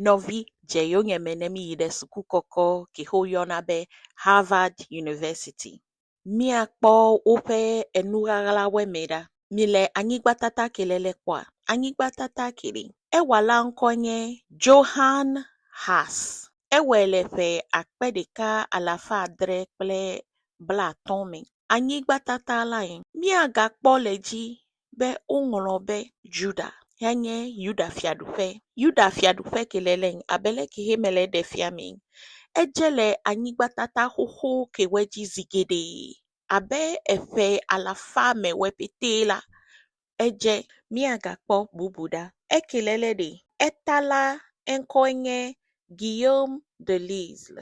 nɔvi dze yonye me ne míyi ɖe suku kɔkɔ ke xe woyɔna be Harvard University. Míakpɔ woƒe enu ʋaʋla wɔmee ɖa. Mile anyigba tata ke le le kpɔa? Anyigba tata ke ɖe. Ewɔla ŋkɔ nye Johann Haas. Ewɔe le ƒe akpe ɖeka alafa adre kple blaatɔ̃ me. Anyigba tata lae míagakpɔ le edzi be woŋlɔ be Ʒuda henye Yuda-Fiaɖuƒe. Yuda-Fiaɖuƒe ke le le ŋ abe lɛ ke he mele ɖe fia mee. Edze le anyigbatata xoxo ke wɔ dzi zi geɖe abe eƒe alafa me wɔ petɛ la, edze. Míagakpɔ bubu ɖa. Eke le le ɖe? Eta la eŋkɔe nye Guillaume de Lisle.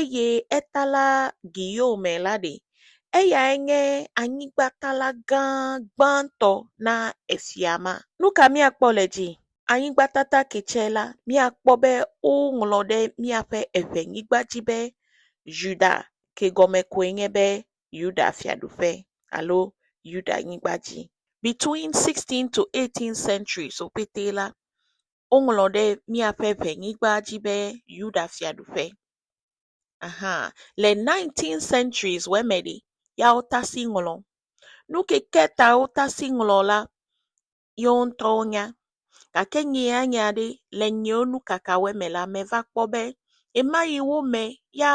eye eta la Guillaume la ɖi. Eyae nye anyigbakala gã gbãtɔ na efia ma. Nu ka míakpɔ le edzi? Anyigbakala ketsɛ la, míakpɔ be woŋlɔ ɖe míaƒe eŋɛnyigba dzi be Yuda, ke gɔme koe nye be Yuda fiaɖuƒe alo Yudanyigba dzi. Between 16th to 18th centuries wo ƒete la, woŋlɔ ɖe míaƒe ŋenyigba dzi be Yuda fiaɖuƒe. Aha le nintin century wɔ me ɖi ya wotasi ŋlɔ. Nu ke ke ta wotasi ŋlɔ la yewo ŋutɔwo nya gake nyeanya ɖe le nyewo nukaka wɔ me la meva kpɔ be ema yi wo me ya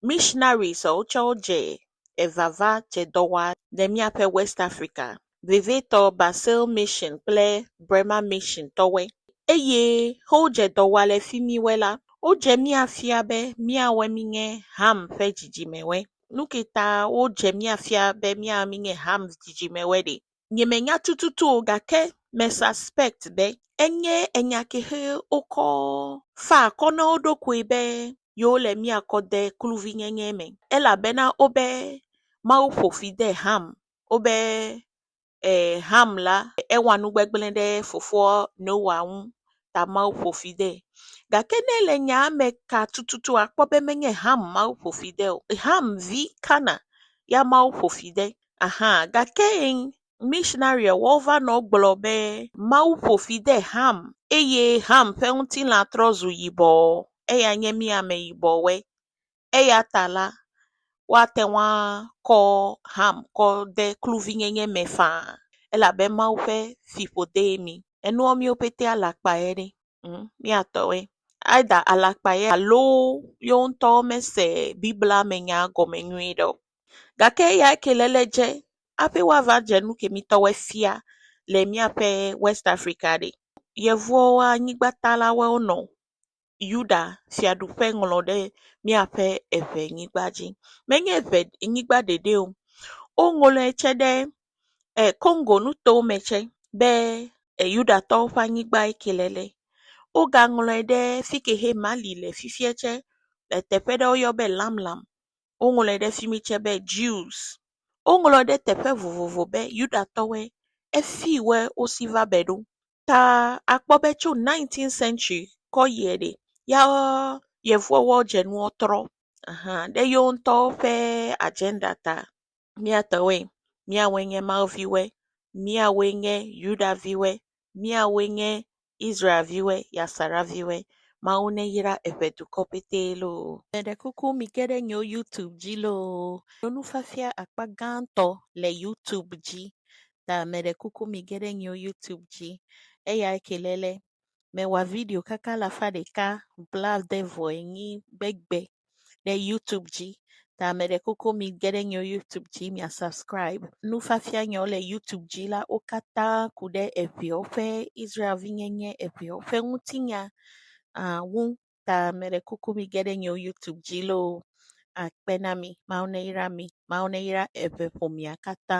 mishinaris wotsɛ dze evava dze dɔ wɔa le míaƒe Wɛst Afrika. vevitɔ Basel Mission kple Bremer Mission tɔwoe. Eye wodze dɔ wɔa le fimiwoe la, wodze mía fia be míawoe mínye Ham ƒe dzidzimewoe. Nuke ta wodze mía fia be míawoe mínye Ham dzidzimewoe ɖe? Nyemenya tututu o, gake me suspect be enye enya ke xe wokɔ faa akɔ na wo ɖokui be yewole mía kɔ de kluvinyenye me, elabena wobe Mawu ƒo fi de Ham wobe e Ham la ewa nu gbegblẽ ɖe fofoa Noa ŋu ta Mawu ƒo fi de. Gake ne le nyaa me ka tututu akpɔ be menye Ham Mawu ƒo fi de o. Ham vi Kana ya Mawu ƒo fi de. Aha gake misinaria wova nɔ gblɔ be Mawu ƒo fi de Ham eye Ham ƒe ŋutilã trɔ zu yibɔ eya nye mí ameyibɔwoe. eya ta la, woate ŋu akɔ Ham kɔ de kluvinyenye me faa elabe Mawu ƒe fiƒodee mí. Enua míwo pɛtɛ alakpae ɖe? Ŋ, míatɔe. Either alakpae alo yewo ŋutɔ womese Biblia me nya gɔme nyuie ɖe o. Gake eya ke le le edze hafi woava dze nu ke mítɔwoe fia le míaƒe West Afrika ɖe, Yevuwo anyigbatalawoe wonɔ o. Yuda fiaɖuƒe ŋlɔ ɖe míaƒe eŋɛnyigba dzi. Menye eŋɛnyigba ɖeɖe o, woŋlɔe tsɛ ɖe Kongo nuto me tsɛ be Yudatɔwo ƒe anyigba ŋkee le le. Wogaŋlɔe ɖe fi ke he Mali le fifia tsɛ. Le teƒe ɖe woyɔ be Lamlam. Woŋlɔe ɖe fi mi tsɛ be Jews. Woŋlɔ ɖe teƒe vovovo be Yudatɔwoe. Efi woe wosi va be ɖo. ta akpɔ be tso nineteenth century kɔ yiɛ ɖe, ya Yevuwo woadze nuwo trɔ hã ɖe yewo ŋutɔwo ƒe agenda ta. Mía tɔwoe, míawoe nye Mawu viwoe, míawoe nye Yuda viwoe, míawoe nye Israel viwoe, Yasara viwoe. Mawu neyra eƒe dukɔ ƒete loo. Meɖe kuku mige ɖe nyewo YouTube dzi loo. Nufiafia akpa gãtɔ le YouTube dzi. ta meɖe kuku mige ɖe nyewo YouTube dzi. Eya ke le le mewɔ video kaka alafa ɖeka blaade vɔ enyi gbegbe ɖe YouTube dzi. Ta meɖe kuku mige ɖe nyewo YouTube dzi mia subscribe. Nufiafia nyewo le YouTube dzi la wo katã ku ɖe eŋewo ƒe Israel vinyenye eŋewo ƒe ŋutinya ah, ŋu Ta meɖe kuku mige ɖe nye YouTube dzi loo akpe na mi. Mawu neyra mi. Mawu neyra eve ƒomea katã.